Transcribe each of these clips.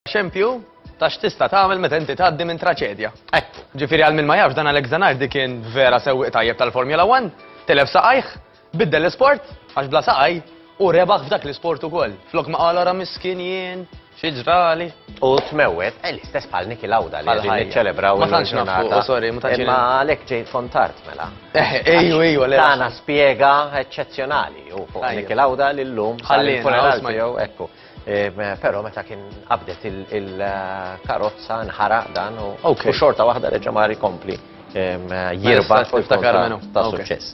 Xempju, ta' x'tista' tagħmel meta inti tgħaddi minn traċedja. Eh, ġifieri għal min ma jafx dan Alex Zanardi kien vera sewwieq tajjeb tal-Formula 1, telef saqajh, biddel l-isport għax bla saqaj U rebaħ f'dak l-isport ukoll. Flok ma qala ra miskin jien, xi ġrali. U tmewwet, eh, l-istess bħal Niki Lawda li għedin niċċelebraw. Ma tantx nafu, oh, sorry, ma tantx. Ma għalek ġejt fontart mela. Eh, ejju, ejju, għalek. Tana spiega eccezjonali u fuq Niki Lawda l-lum. Ħallin, funeral tiegħu, ekku. Però meta kien qabdet il-karozza nħaraq dan u xorta waħda reġa' mar ikompli jirba' ta' suċċess.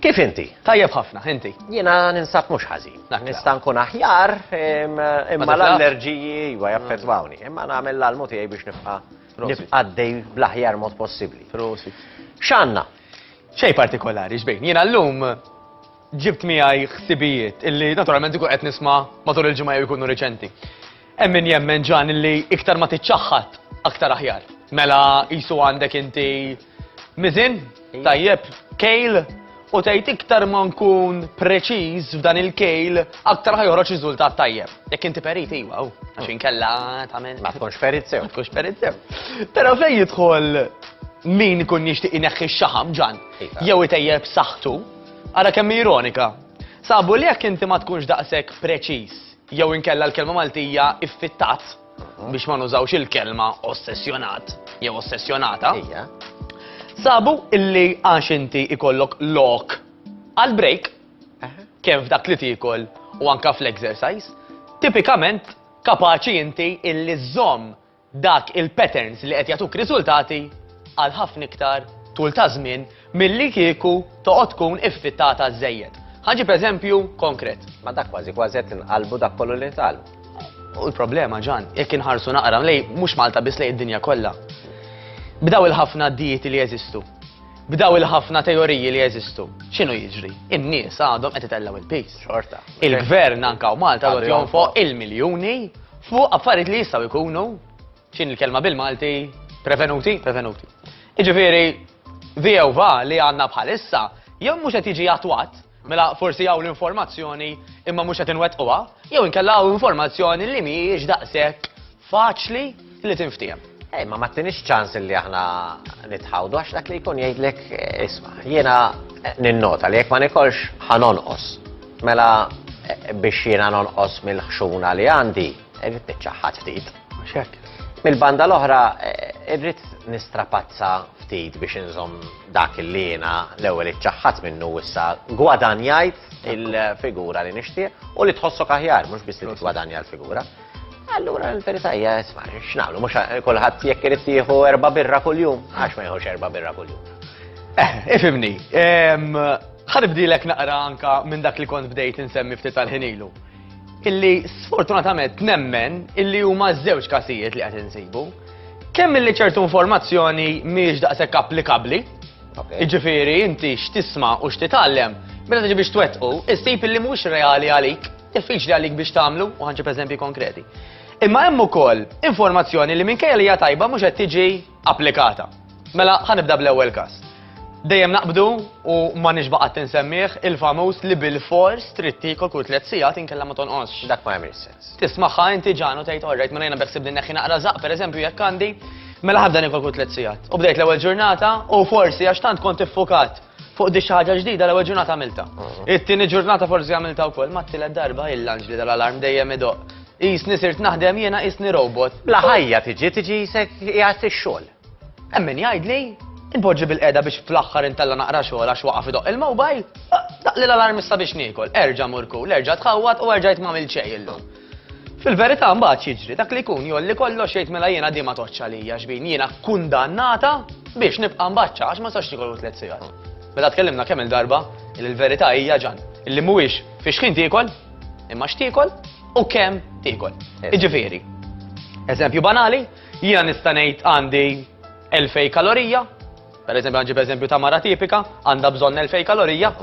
Kif inti? Tajjeb ħafna, inti? Jiena ninsab mhux ħażin. Nista' nkun aħjar imma l-allerġiji iva jaffettwawni. Imma nagħmel l-almu tiegħi biex nibqa' għaddej bl-aħjar mod possibbli. X'għandna? Xejn partikolari, xbejn. Jiena llum Ġibt miegħi ħsibijiet illi naturalment ikun qed nisma' matul il-ġimgħa jew ikunu riċenti. Hemm min jemmen ġan illi iktar ma tiċċaħħad aktar aħjar. Mela qisu għandek inti miżin, tajjeb, kejl, u tgħid iktar ma nkun preċiż f'dan il-kejl aktar ħaj joħroġ riżultat tajjeb. Jekk inti perit iwa, u għax inkella tagħmel. Ma tkunx perit sew. Ma tkunx perit sew. Però fejn jidħol min ikun jixtieq ineħħi x-xaħam ġan, iva. jew itejjeb saħħtu, Ara kemm hi ironika! Sabu li jekk inti ma tkunx daqshekk preċiż jew inkella l-kelma Maltija iffittat, biex ma nużawx il-kelma ossessjonat jew ossessjonata, sabu illi għax inti ikollok lok għal break, kemm f'dak li tiekol u anke fl-exercise, tipikament kapaċi inti illi żżomm dak il-patterns li qed jagħtuk riżultati għal ħafna iktar tul ta' żmien milli kieku toqgħod tkun iffittata żżejjed. Ħa ġib eżempju konkret. Ma dak kważi kważi qed inqalbu dak kollu li tal. U l-problema ġan, jekk inħarsu naqra lej mhux Malta biss lej id-dinja kollha. B'daw il-ħafna dieti li jeżistu, b'daw il-ħafna teoriji li jeżistu, x'inhu jiġri? In-nies għadhom qed itellgħu il-pis. Xorta. Il-gvern anka u Malta għad jonfoq il-miljuni Fuq affarijiet li jistgħu jkunu, x'in il-kelma bil-Malti, prevenuti, prevenuti. Iġifieri, VOVA li għandna bħalissa, jew mhux qed jiġi attwat, mela forsi hawn l-informazzjoni imma mhux qed inwettquha, jew inkella hawn informazzjoni li mhijiex daqshekk faċli li tinftiehem. Ej, ma mattinix ċans li aħna nitħawdu, għax dak li jkun jgħidlek, isma, jiena ninnota li jekk ma nikolx ħanonqos. Mela biex jiena nonqos mill-ħxuna li għandi, irrid niċċaħħad ftit. Xek. Mill-banda l-oħra, eh, irrid nistrapazza ftit biex inżom dak li jiena l-ewwel iċċaħħad minnu issa gwadanjajt il-figura li nixtieq u li tħossok aħjar, mhux biss li tgwadanja l-figura. Allura l-verità hija isma' x'nagħmlu mhux kulħadd jekk irid jieħu erba' birra kuljum, għax ma jieħux erba' birra kuljum. Eh, ifimni, ħanibdilek naqra anka minn dak li kont bdejt insemmi ftit tal-ħinilu. Illi sfortunatament nemmen illi huma żewġ kasijiet li qed insibu. Kemm illi ċertu informazzjoni mhijiex daqshekk applikabbli, jiġifieri inti x'tisma' u x'titgħallem, meta tiġi biex twettqu, issib illi mhux reali għalik. Diffiċli għalik biex tagħmlu u ħanġib eżempji konkreti. Imma hemm ukoll informazzjoni li minkejja li hija tajba mhux qed tiġi applikata. Mela ħanibda bl-ewwel każ. Dejjem naqbdu u ma nixbaqat tinsemmih il-famuż li bil-fors trid tiekol kull tliet sigħat inkella ma tonqos. Dak ma jagħmel sens. Tismaħħa inti ġanu tgħid orrejt minn jiena beħsib din neħħi naqra żaq pereżempju jekk għandi mela ħabda nikol kull tliet sigħat. U bdejt l-ewwel ġurnata u forsi għax tant kont iffukat Fuq di ħaġa ġdida l-ewwel ġurnata għamilta. Mm. It-tieni ġurnata forsi għamilta wkoll ma t-tielet darba il-lanġ li dal-alarm dejjem idoq. Jisni sirt naħdem jiena jisni robot. Bla ħajja tiġi tiġi jisek jgħat ix-xogħol. Emmin jgħidli, inpoġġi bil-qeda biex fl-aħħar intella naqra xogħol għax waqaf idoq il-mobile, daqli l-alarm issa biex niekol, erġa' murku, l-erġa' tħawwat u erġa' jitmamil ċej illum. Fil-verità mbagħad x'jiġri? Dak li jkun jgħolli kollox jgħid mela jiena din ma tgħoddx għalija xbin, jiena kkundannata biex nibqa' mbaċċa għax ma nistax niekollu tliet sigħat. Mela tkellimna kemm il-darba li l-verità hija ġan, illi mhuwiex fi xħin tiekol, imma x'tiekol u kemm tiekol. Iġifieri, eżempju banali, jiena nista' ngħid għandi 2000 kalorija, per eżempju għanġib eżempju ta' mara tipika, għandha bżonn 2000 kalorija,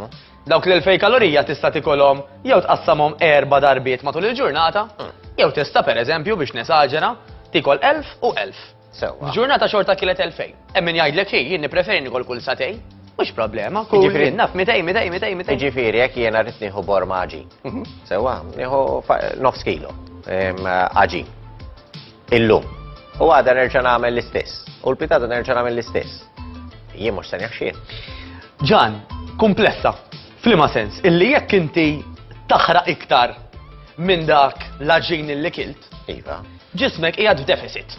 Dawk l-2000 kalorija tista' tikolhom jew tqassamhom erba' darbiet matul il-ġurnata, hmm. jew tista' pereżempju biex nesaġera tikol 1000 u 1000. Sewwa. Ġurnata xorta kielet 2000. Hemm min jgħidlek hi jien nippreferi nikol kull satej. Mhux problema, kull jien naf 200, 200, 200, 200. Jiġifieri jekk jiena rrid nieħu borma ġin. Mhm. Sewwa, nieħu nofs kilo ġin. Illum. U għada nerġa' nagħmel l-istess. U l-pitata nerġa' nagħmel l-istess. Jien mhux se neħxien. Ġan, kumplessa. Flima sens, illi jekk inti taħraq iktar minn dak l-aġin li kilt. Iva. Ġismek qiegħed f'deficit.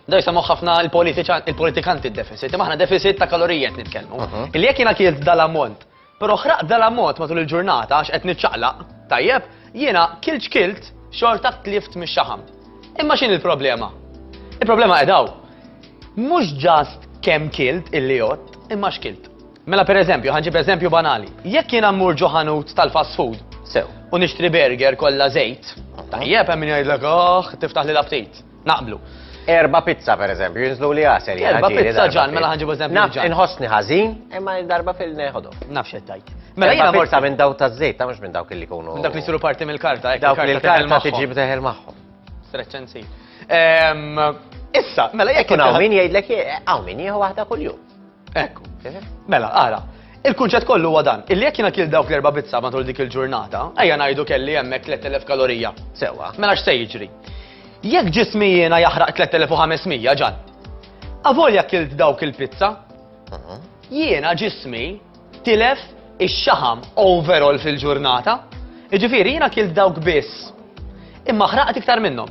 Da jisamu ħafna il-politikanti il-deficit, imma ħna deficit ta' kalorijiet nitkellmu. Mhm. Illi jekk jiena kilt dal-ammont Però ħraqt dal-ammont matul il-ġurnata għax qed niċċaqlaq, tajjeb, jiena kilt x'kilt, xorta tlift mix-xaħam. Imma x'inhi l-problema? Il-problema qed hawn. Mhux ġast kemm kilt illi jott, imma x'kilt. Mela pereżempju, ħanġib eżempju banali. Jekk jiena mmur ġo ħanut tal-fast food, sew, u nixtri burger kollha żejt, tajjeb hemm min jgħidlek, oh, tiftaħ lil aptit. Naqblu. Erba pizza per eżempju, jinżlu li għasel. Erba pizza ġan, mela ħanġibu eżempju. Naf, inħossni ħażin, imma darba fil-neħodu. Naf xettajt. Mela jina morta minn daw ta' zejt, ta' mux minn dawk li kunu. Minn dawk li siru parti mill-karta, dawk li l-karta tiġi b'teħel maħħom. Streċċenzi. Ehm, issa, mela jekk. Kun għaw min jgħidlek, għaw min jieħu waħda kull-jum. Ekku. Mela, ara, il-kunċett kollu huwa dan, illi jekk jiena kil dawk l-erba' bizza matul dik il-ġurnata, ejja ngħidu kelli hemmhekk 3000 kalorija. Sewwa. Mela x'se jiġri? Jekk ġismi jiena jaħraq 3500 ġan, avolja kilt dawk il-pizza, jiena ġismi tilef ix-xaħam overall fil-ġurnata, jiġifieri jiena kilt dawk biss, imma ħraqt iktar minnhom.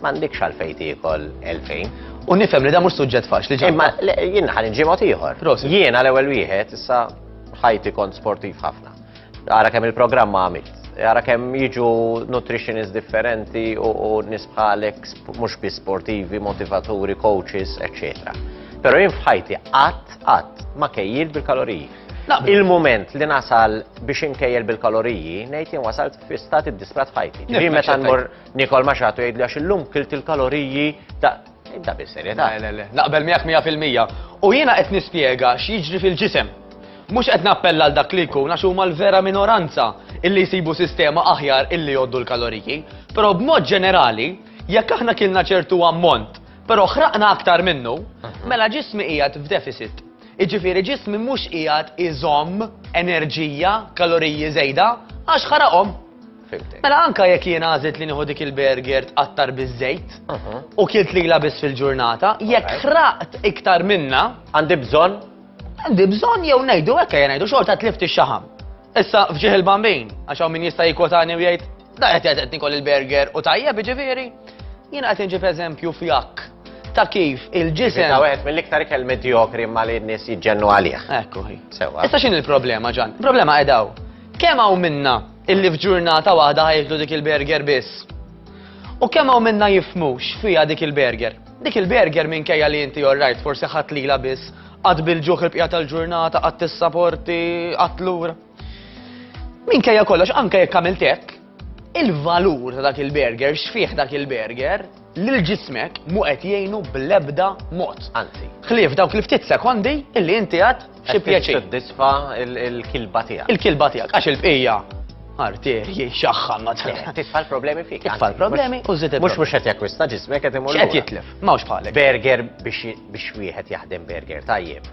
M'għandekx għalfejn tiekol 2000. U nifhem li da mhux suġġett faċli ġa. Imma jien ħan inġimgħod ieħor. Jien għal ewwel wieħed issa ħajti kont sportiv ħafna. Ara kemm il-programm għamilt. Ara kemm jiġu nutritionist differenti u nisbħalek mhux bi sportivi, motivaturi, coaches, eccetera. Pero jien fħajti qatt qatt ma kejjil bil-kaloriji. Il-moment li nasal biex inkejjel bil-kaloriji, nejt jien wasalt fi stati disprat ħajti. Ġi meta nmur Nikol ma xatu jgħidli għax illum kilt il-kaloriji ta' Ibda bis-serjetà. Le, le, le. Naqbel miegħek 100%. U jiena qed nispjega x'jiġri fil-ġisem. Mhux qed nappella għal dak li jkun għax huma l-vera minoranza illi jsibu sistema aħjar illi jgħoddu l-kaloriji. Però b'mod ġenerali, jekk aħna kilna ċertu ammont, però ħraqna aktar minnu, mhm. mela ġismi qiegħed f'deficit. Iġifieri ġismi mhux qiegħed iżomm enerġija, kaloriji żejda, għax ħaraqhom. Mela anka jekk jien għażilt li nieħu dik il-burger tqattar biż-żejt u kilt lilha biss fil-ġurnata, jekk ħraqt iktar minna. Għandi bżonn? Għandi bżonn jew ngħidu hekk jien ngħidu xorta tlift ix-xaħam. Issa fġieħ il-bambin, għax hawn min jista' jikkotani u jgħid, da qed qed qed nikol il-burger u tajjeb jiġifieri. Jien qed inġib eżempju fjak ta' kif il-ġisem. Ta' wieħed mill-iktar ikel medjokri ma li n-nies jiġġennu għalih. Ekku hi. Sewa. Issa x'in il-problema ġan? Il-problema qedaw. Kemm hawn minna Illi f'ġurnata waħda ħajklu dik il-burger biss. U kemm hawn minna jifmu x'fiha dik il-burger? Dik il-burger minkejja li inti orrajt forsi ħadd lila biss, qatt bil-ġuħ il-bqija tal-ġurnata, qatt tissaporti, qatt lura. Minkejja kollox anke jekk għamilt hekk, il-valur ta' dak il-burger, x'fih dak il-burger, lil ġismek mhu qed jgħinu bl-ebda mod. Anzi. Ħlief dawk li ftit sekondi illi inti għad xi pjaċir. Tiddisfa il-kilba tiegħek. Il-kilba tiegħek għax il-bqija arterji xaħħa ma Titfa' l-problemi fik. Titfa' l-problemi u żid Mhux mhux qed jakkwista ġismek qed imur. X'qed jitlef, m'hawnx bħalek. Burger biex wieħed jaħdem burger tajjeb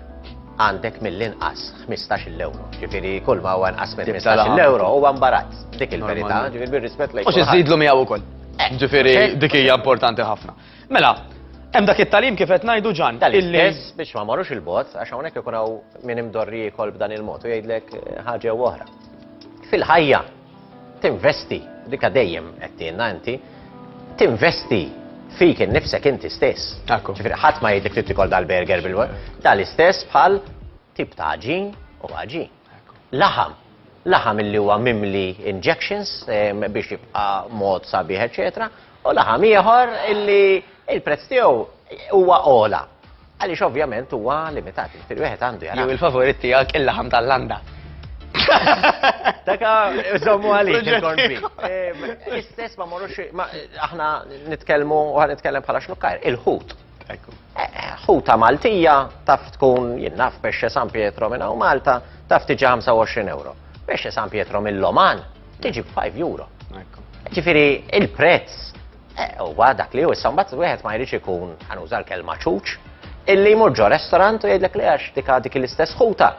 għandek mill-inqas 15 euro. Ġifiri, kull ma huwa nqas minn 15 euro huwa mbarazz. Dik il-verità, ġifiri bir-rispett lejk. U xi żidlu miegħu wkoll. Ġifieri eh, dik hija importanti ħafna. Mela, Hemm dak it-talim kif qed ngħidu ġan. Tal-istess biex ma marrux il-bot, għax hawnhekk ikun hawn min imdorri jkol b'dan il-mod u jgħidlek eh, ħaġa u oħra. Fil-ħajja tinvesti dika dejjem qed tienna inti, tinvesti fik innifsek inti stess. Ġifieri ħadd ma jgħidlek trid tikol dal-burger bil-waqt. Tal-istess bħal tip ta' ġin u ħaġin. Laħam, laħam illi huwa mimli injections biex jibqa' mod sabiħ eċċetera, u laħam ieħor illi l-prezz tiegħu huwa ogħla. Għaliex ovvjament huwa limitat, jiġifieri wieħed għandu jara. Jew il-favorit tiegħek il-laħam tal-landa. Daka żommu għalik il-corned beef. L-istess ma morrux aħna nitkellmu u ħa nitkellem bħala xnukkar, il-ħut. Ħuta Maltija taf tkun jinnaf pesce San Pietro minn hawn Malta taf tiġi 25 euro. Pesce San Pietro mill-Oman tiġi 5 euro. Ġifiri, il-prezz eh, huwa dak li hu issa mbagħad wieħed ma jridx ikun ħanuża l-kelma ċuċ illi jmur ġo restorant u jgħidlek li għax dik dik l-istess ħuta.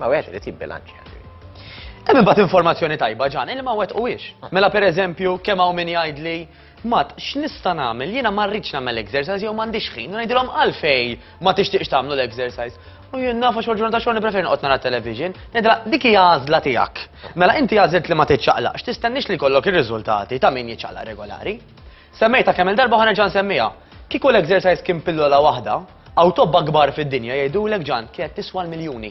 Ma wieħed irid jibbilanċja. Hemm imbagħad informazzjoni tajba ġan, il ma wet u wiex. Mela pereżempju kemm hawn min jgħidli Mat, x'nista' nagħmel? Jiena ma rridx nagħmel exercise jew m'għandix ħin, ngħidilhom għalfej ma tixtieqx tagħmlu l-exercise. U jien nafa xogħol ġurnata xogħol nippreferi noqgħod nara television, ngħidilha dik hija għażla tiegħek. Mela inti għażilt li ma tiċċaqlaqx, tistennix li kollok ir-riżultati ta' min jiċċaqlaq regolari. Semmejtha kemm il darba u ħa nerġa' nsemmiha. Kieku l-exercise kien pillola waħda, hawn tobba kbar fid-dinja jgħidulek Ġan kienet tiswa l-miljuni.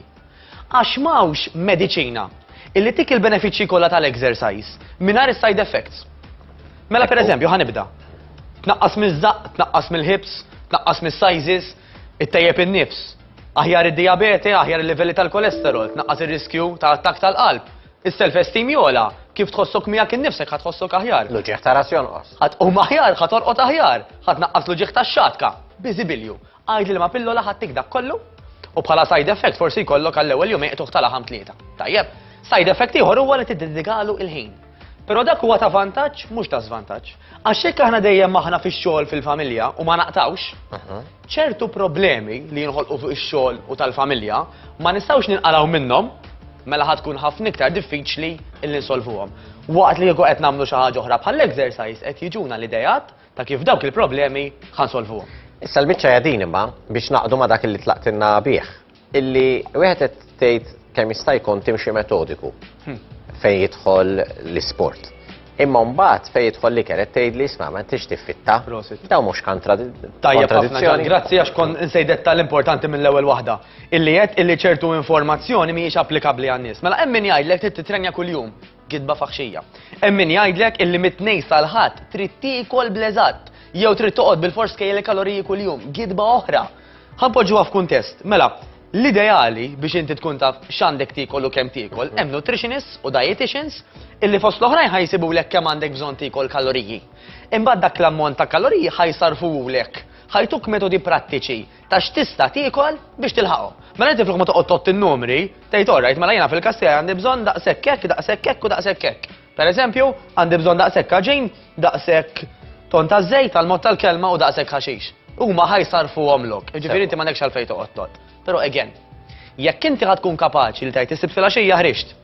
Għax m'hawnx mediċina illi tik il-benefiċċji kollha tal-exercise mingħajr is-side effects. Mela pereżempju ħa nibda. Tnaqqas miż-żaqq, tnaqqas mill-hips, tnaqqas mis-sizes, ittejjeb in-nifs. Aħjar id-dijabete, aħjar il-livelli tal-kolesterol, tnaqqas ir-riskju ta' attakk tal-qalb, Is-self esteem jogħla, kif tħossok miegħek innifsek ħa tħossok aħjar. L-uġigħ ta' ras jonqos. Ħa tqum aħjar, ħa torqod aħjar, ħa tnaqqas l-uġigħ tax-xatka. Biżibilju, għid li liema pillola ħa ttik dak kollu u bħala side effect forsi jkollok għall-ewwel jum iqtuħ tal-aħam tlieta. Tajjeb, side effect ieħor huwa li tiddedikalu il-ħin. Però dak huwa ta' vantaġġ mhux ta' żvantaġġ. Għax jekk aħna dejjem aħna fix-xogħol fil-familja u ma naqtgħux, ċertu problemi li jinħolqu fuq ix-xogħol u tal-familja ma nistgħux ninqalgħu minnhom mela ħad tkun ħafna iktar diffiċli li nsolvuhom. Waqt li jieku qed nagħmlu xi ħaġa oħra bħal exercise qed jiġuna l-idejat ta' kif dawk il-problemi ħansolvuhom. Issa l-miċċa jadin imma biex naqdu ma dak li tlaqtinna bih. Illi wieħed qed tgħid kemm jista' jkun timxi metodiku fejn jidħol l-isport. Imma mbagħad fejn jidħol li kienet tgħid li isma' ma tix tiffitta. Daw mhux kontradizzjoni. Grazzi għax kon insejdet tal-importanti mill-ewwel waħda. Illi qed illi ċertu informazzjoni mhijiex applikabbli għan-nies. Mela hemm min jgħidlek trid titrenja kuljum. Gidba faħxija. Hemm min jgħidlek illi mit-Tnejn sal-Ħadd trid tiekol bl-eżatt jew trid toqgħod bil-fors kejjel il-kaloriji kuljum. Gidba oħra. Ħa npoġġuha f'kuntest. Mela, l-ideali biex inti tkun taf x'għandek tiekol u kemm tiekol, hemm nutritionists u dietitians illi fost l-oħrajn ħa jsibulek kemm għandek bżonn tiekol kaloriji. Imbagħad dak l-ammont ta' kaloriji ħa jsarfuhulek. Ħa jtuk metodi prattiċi ta' x'tista' tiekol biex tilħaqhom. Mela inti flok ma toqgħod tott in-numri, tgħid orrajt mela jiena fil-kassija għandi bżonn daqshekk hekk, daqshekk hekk u daqshekk hekk. Pereżempju, għandi bżonn daqshekk aġin, daqshekk ton ta' żejt għal mod tal-kelma u daqshekk ħaxix. Huma ħajsarfuhom lok. Ġifieri inti m'għandekx għalfejn toqgħod tott. Però again, jekk inti ħad tkun kapaċi li tgħid is-Sibt filgħaxija ħriġt,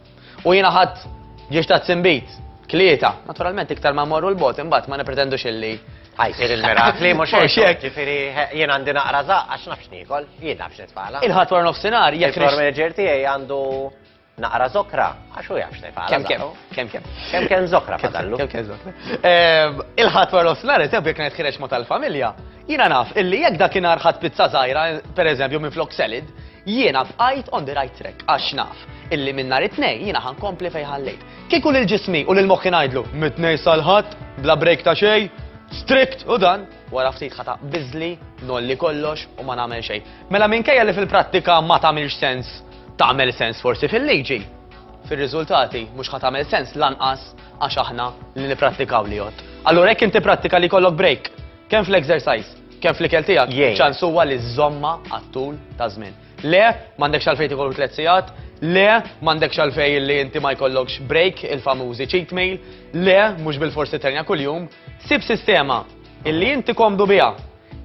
U jiena ħadd ġiex ta' tsimbit, tlieta. Naturalment iktar ma morru l-bot imbagħad ma nipretendux illi ħajsir il-mirakli mhux hekk. Ġifieri jien għandi naqra żaq għax nafx niekol, jien nafx nitfala. Il-ħadd wara nofsinhar jekk. Il-floor manager tiegħi għandu naqra zokra għax hu jafx nitfala. Kemm kemm, kemm kemm. Kemm kemm zokra fadallu. Kemm kemm zokra. Ehm, il-ħadd wara nofsinhar eżempju jekk qed ħireġ ma' tal-familja, jiena naf illi jekk dakinhar ħadd pizza żgħira, pereżempju minn flok selid, Jiena bqajt on the right track għax naf illi minn nhar it-Tnejn jiena ħa nkompli fejn ħallejt. Kieku lil ġismi u lil moħħi ngħidlu mit-Tnejn sal-Ħadd bla break ta' xejn, strict u dan, wara ftit ħa taqbiżli, nolli kollox u ma nagħmel xejn. Mela minkejja li fil-prattika ma tagħmilx sens, tagħmel sens forsi fil-liġi, fir-riżultati mhux ħa tagħmel sens lanqas għax aħna li nipprattikaw li jgħodd. Allura jekk inti prattika li jkollok break, kemm fl-exercise, Kemm fl-ikel tiegħek, iċ-ċans huwa li żżommha għat-tul ta' żmien. Le, m'għandekx għalfejn tiekol tliet sigħat, le, m'għandekx għalfejn li inti ma jkollokx break, il-famużi cheat meal, le, mhux bil-forsi terja kuljum. Sib sistema illi inti komdu biha,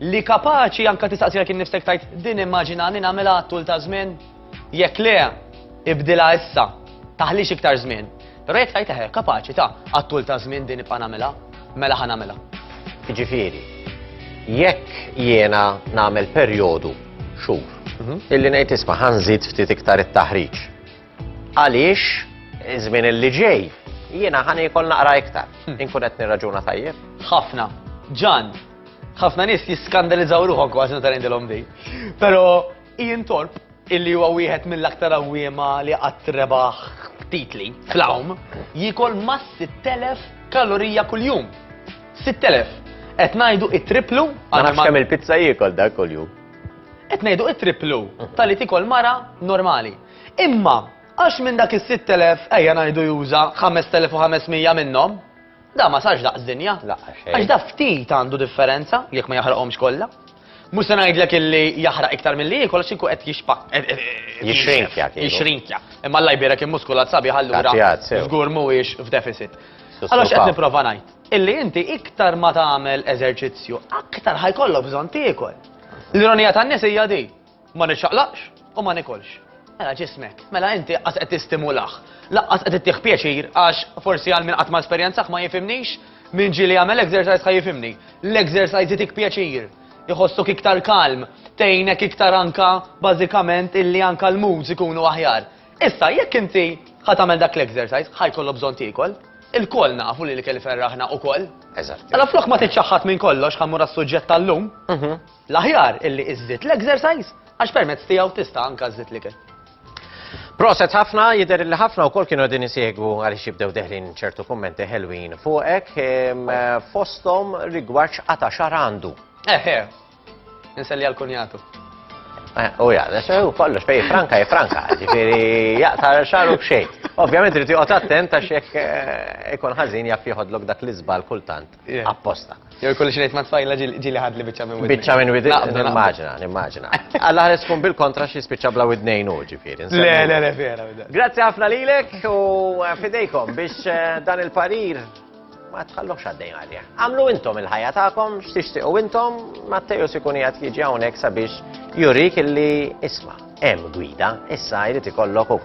li kapaċi anke tistaqsilek innifsek tgħid din immaġinani nagħmilha għat-tul ta' żmien. Jekk le, ibdilha issa. Taħlix iktar żmien. Però jekk tgħid eħe, kapaċi ta' għat-tul ta' żmien din nibqa' nagħmilha, mela ħa nagħmilha. Jiġifieri, jekk jiena nagħmel perjodu xhur mhm. illi ngħid isma' ħanżid ftit iktar it-taħriġ. Għaliex iż-żmien illi ġej jiena ħan ikol naqra iktar. Hmm. Inkun qed nirraġuna tajjeb. Ħafna. Ġan, ħafna nies jiskandalizzaw ruħhom kważi meta ngħidilhom din. Però Ian Thorpe, illi huwa wieħed mill-aktar għawwiema li qatt rebaħ titli fl-għawm, jiekol ma' 6,000 kalorija kuljum. 6,000. Qed ngħidu it-triplu Ma nafx kemm il-pizza jiekol dak kuljum. Qed ngħidu it-triplu tal-li tikol mara normali. Imma għax minn dak is-6,000 ejja ngħidu juża 5,500 minnhom, Da ma sarx daqs dinja. Għax da ftit għandu differenza jekk ma jaħraqhomx kollha. Mhux se ngħidlek illi jaħraq iktar milli jiekol għax inkun qed jixpak. Eh, eh, eh, jixrinkja. Jixrinkja. Imma Alla jbierek immuskulat sabi ħallura żgur mhuwiex f'deficit. Allora x'qed nipprova ngħid? Illi inti iktar ma tagħmel eżerċizzju, aktar ħajkollok bżonn tiekol. L-ironija tan-nies hija di. Ma niċċaqlaqx u ma nikolx. Mela ġismek, mela inti qas qed tistimulah. Laqqas qed ittih pjaċir għax forsi għal min qatt ma esperjenzah ma jifimnix, min ġieli jagħmel exercise ħa jifimni. L-exercise jitik pjaċir iħossok iktar kalm, tgħinek iktar anka bażikament illi anka l-moods ikunu aħjar. Issa jekk inti ħa tagħmel dak l-exercise, ħa jkollu bżonn tiekol, il-koll nafu li l-ikel ferraħna ukoll. Eżatt. Mela flok ma tiċċaħħad minn kollox ħammur għas-suġġett tal-lum. Mhm. L-aħjar illi iżżid l-exercise għax permezz tiegħu tista' anka żżid l-ikel. Proset ħafna, jider li ħafna u kol kienu għedin jisiegu għalix jibdew deħlin ċertu kommenti ħelwin fuqek fostom rigwarċ għata xar għandu. Eħe, nselli għal-kunjatu. Eh, u ja, u kollox, fej franka, e franka, ġifiri, jaqta xaru bxej. Ovvijament, rriti għot attent għax jek eh, ikon ħazin jaf jħodlok dak l-izbal kultant. apposta. Jew jkolli xi ma' tfajla ġieli ħadli biċċa minn widni. Biċċa minn widni, nimmaġina, nimmaġina. Alla ħares tkun bil-kontra xi spiċċa bla widnejn u ġifieri. Le, le, le, vera. Grazzi ħafna lilek u eh, fidejkom biex eh, dan il-parir ma tħallux għaddejn għalja. Għamlu intom il-ħajja tagħkom, x'tixtiqu intom, Matteju sikun jgħat jiġi hawnhekk sabiex jurik illi isma' hemm gwida, issa jrid ikollok